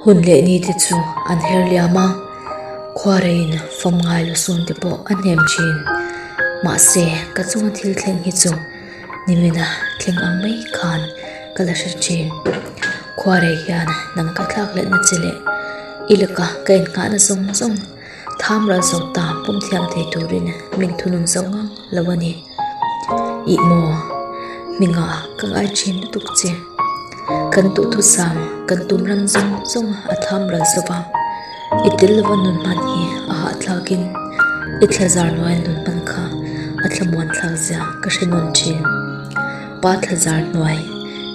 Hun leh ni te chu an her liam a, khuarein fawm ngai lu sun te pawh a hnem thin. Mahse, ka chunga thil thleng hi chu nimin a thleng ang mai khan ka la hre thin. Khuarei hian nang ka thlak let na che leh i laka ka en nghah na zawng zawng. Tham ral zo ta pumthiam thei turin min thunun zo ngang lo a ni. Ih maw, mi nga ka ngai thin lutuk che. Kan duhthusam, kan tum ram zawng zawng a tham ral zo va. I tel lova nun hman hi a hahthlakin i thlazar nuai nun hman kha a thlamuan thlak zia ka hre nawn thin. Pa thlazar hnuai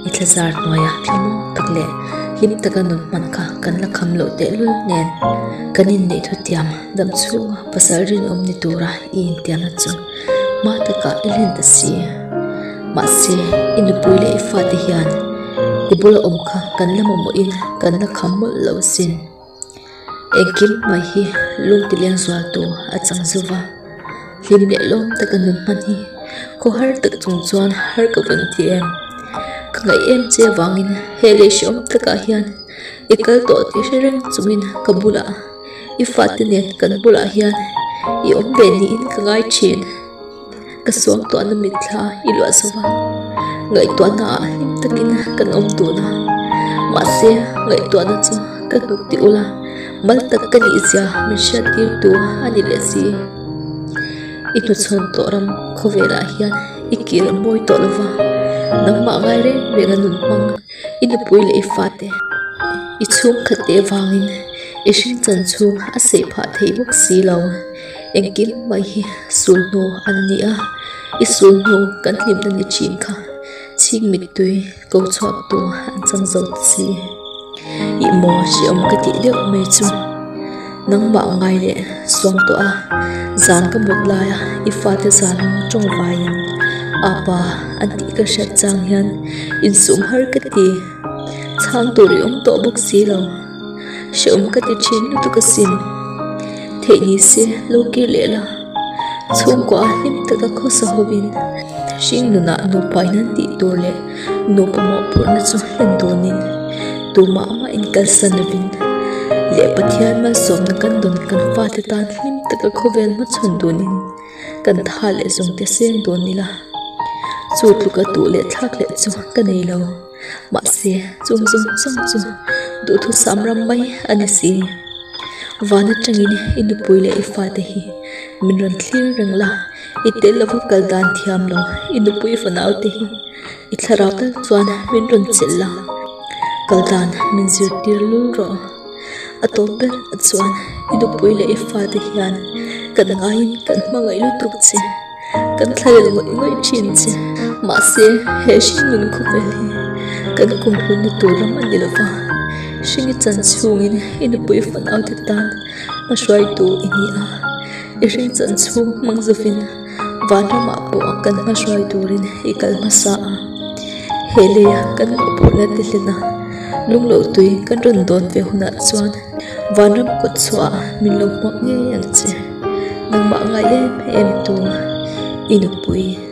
i thlazar hnuai ah hlim maw tak leh hlim taka nawm hman kha kan la kham loh tehlul nen kan inneih thutiam dam chhunga pasal rinawm ni tura i intiam na chu hma taka i hlen ta si mahse i nupui leh i fate hian i bula awm kha kan la mamawhin kan la kham mawlh loh sin. Engkim hmai hi lung ti leng zual tur a chang zo va, hlim leh lawm te kan rawn hman hi khaw har tak chung chuan har ka vun ti em, ka ngaih em che avangin hei lei hre awm takah hian i kal tawh ti hre reng chungin ka bulah i fate nen kan bulah hian i awm ve niin ka ngai thin. Ka suamtuahna mitthla i luahso va, ngaihtuahna ah hlim takin kan awm dun a, mahse ngaihtuahna chu ka hnuk tih ula, mal tak ka nih zia min hriattirtu a ni leh si. I hnuchhawn tawh ram khawvelah hian i kir mawi tawh lo va, nangmah ngai reng reng a nun hmang i nupui leh i fate, i chhungkhat te vangin i hringchan chhung a seih phah theih bawk si lo. engkim mai hi sulhnu an ni a i sulhnu kan hlimna ni thin kha chhing mittui ko chhuak tur an chang zo ta si i maw hriawm ka tih deuh mai chu nangmah ngai leh suam tawh a zan ka mut lai a i fate zan ho tawng vaiin apa an tih ka hriat chang hian insum har ka ti chhang tur i awm tawh bawk si lo. Hre awm ka ti thin lutuk a sin Theih ni se lo kir leh la Chhungkua ah hlim taka khawsa hovin Hring nunah nupai nan tih tur leh Nupa mawh phurhna chu hlen dawnin Tumah ama in kalsa lovin Leh Pathian malsawmna kan dawn kan fate tan Hlim taka khawvel hma chhawn dawnin Kan tha leh zawngte seng dawn ila Chu tluka tuh leh thlak leh chu ka nei lo. Mahse, chung zung zung chu duhthusam ram mai a ni si. Van atangin i nupui leh i fate hi min rawn thlir reng la, i tel lova kal dan thiam lo. I nupui fo naute hi i thlarau tak chuan min rawn chelh la, kal dan min zir tir lul rawh. A tawp ber ah chuan i nupui leh i fate hian kan ngaiin kan hmangaih lutuk che. Kan thlairel ngawih ngawih thin che, mahse he hring nun khawvel hi kan kum hluna tur ram a ni lova, hring i chan chhungin i nupui fanau te tan hma hruai tur i ni a, i hring chan chhung hmang zovin van ramah pawh kan hma hruai turin i kal hmasa a. He leia kan hmuh pawh la ti hlena, lunglo tui kan rawn dawn ve hunah chuan. Vanram kut chhuah a min lo hmuak ngei ang che nangmah ngai em em tuna i nupui.